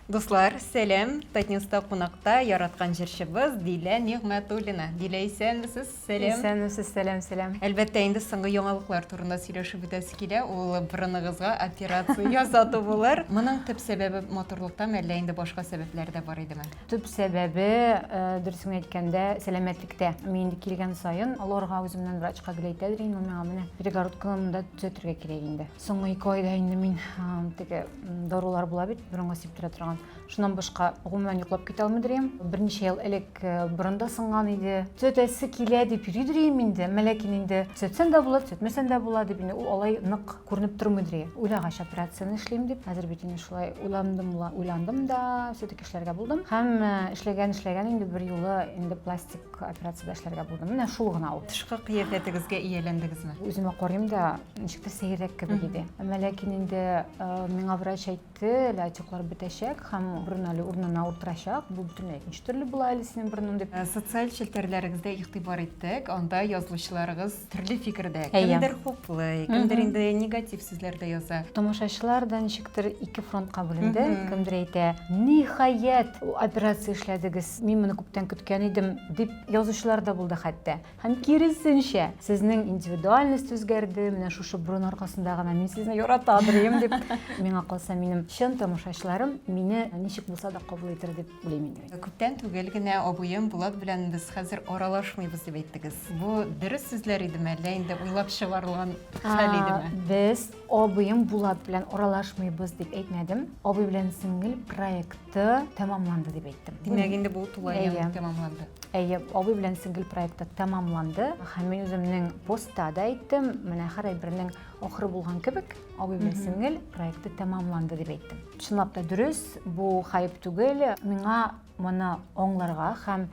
Дуслар, сәлам! Татньюста кунакта яраткан җырчыбыз Дилә Нигъмәтуллина. Дилә, исәнмесез? Сәлам! Исәнмесез, сәлам, сәлам! Әлбәттә, инде соңгы яңалыклар турында сөйләшеп үтәсе килә, ул борыныгызга операция ясату булыр. Моның төп сәбәбе матурлыктамы, әллә инде башка сәбәпләре дә бар идеме? Төп сәбәбе, дөресен генә әйткәндә, сәламәтлектә. Мин инде килгән саен, олыгарга үземнән врачка гел әйтәдер идем, миңа менә перегородканы монда төзәтергә кирәк инде. Соңгы ике айда инде мин теге дарулар була бит, борынга сиптерә торган. Шуннан башка гомумән йоклап китә алмый дөрим. Берничә ел элек э, борын да сынган иде. Төтәсе килә дип йөри дөрим инде. Ләкин инде төтсән дә була, төтмәсән дә була дип инде ул алай нык күренеп тормый дөрим. Уйлагач операцияне эшлим дип, хәзер бит инде шулай уйландым, уйландым да, все-таки эшләргә булдым. Һәм э, эшләгән эшләгән инде бер юлы инде пластик Операциядә эшләргә булдым. Менә шул гына ул. Тышкы кыяфәтегезгә ияләндегезме? Үземә карыйм да, ничек тә сәеррәк кебек иде. Әмма ләкин инде миңа врач әйтте, әле отеклар бетәчәк һәм борын әле урынына утырачак. Бу бөтенләй икенче төрле була әле синең борының дип. Социаль челтәрләрегездә игътибар иттек, анда язылучыларыгыз Төрле фикердә. Кемдер хуплый, кемдер инде негатив сүзләр дә яза. Тамашачылар да ничектер ике фронтка бүленде. Кемдер әйтә, ниһаять, операция эшләдегез, мин моны күптән көткән идем, дип язучылар да булды хәтта. Һәм киресенчә, сезнең индивидуальность үзгәрде, менә шушы борын аркасында гына мин сезне ярата белим, дип. Миңа калса, минем чын тамашачыларым мине ничек булса да кабул итер дип уйлыйм инде мин. Күптән түгел генә абыем Булат белән без хәзер аралашмыйбыз дип әйттегез. Бу дөрес сүзләр идеме, әллә инде уйлап чыгарылган хәл идеме? Без абыем Булат белән аралашмыйбыз дип әйтмәдем. Абый белән сеңел проекты тәмамланды дип әйттем. Димәк, инде бу тулаем тәмамланды. Әйе, абый белән сеңел проекты тәмамланды. Һәм мин үземнең постта да әйттем, менә һәр әйбернең ахыры булган кебек. Абый белән сеңел проекты тәмамланды дип әйттем. Чынлап та дөрес, бу хайп түгел. Миңа моны аңларга һәм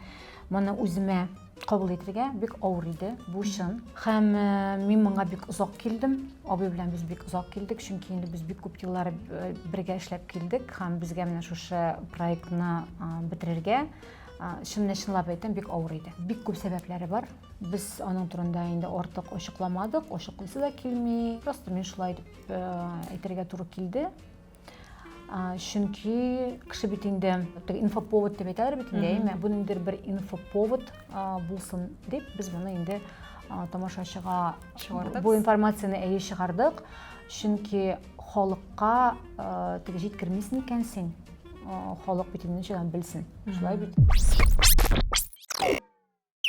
моны үземә кабул итергә бик авыр иде. Бу чын. Һәм э, мин моңа бик озак килдем. Абый белән без бик озак килдек, чөнки инде без бик күп еллар э, бергә эшләп килдек һәм безгә менә шушы проектны бетерергә чыннан чынлап әйтәм, бик авыр иде. Бик күп сәбәпләре бар. Без аның турында инде артык ачыкламадык, ачыклыйсы да килми. Просто мин шулай дип э, әйтергә туры килде. Чөнки кеше бит инде инфоповод дип әйтәләр бит инде, әйме? Бу ниндидер бер инфоповод булсын дип без моны инде тамашачыга чыгардык. Бу информацияне әйе чыгардык. Чөнки халыкка э, теге җиткермисен икән син. Халык бит инде ничәдән белсен. Шулай бит.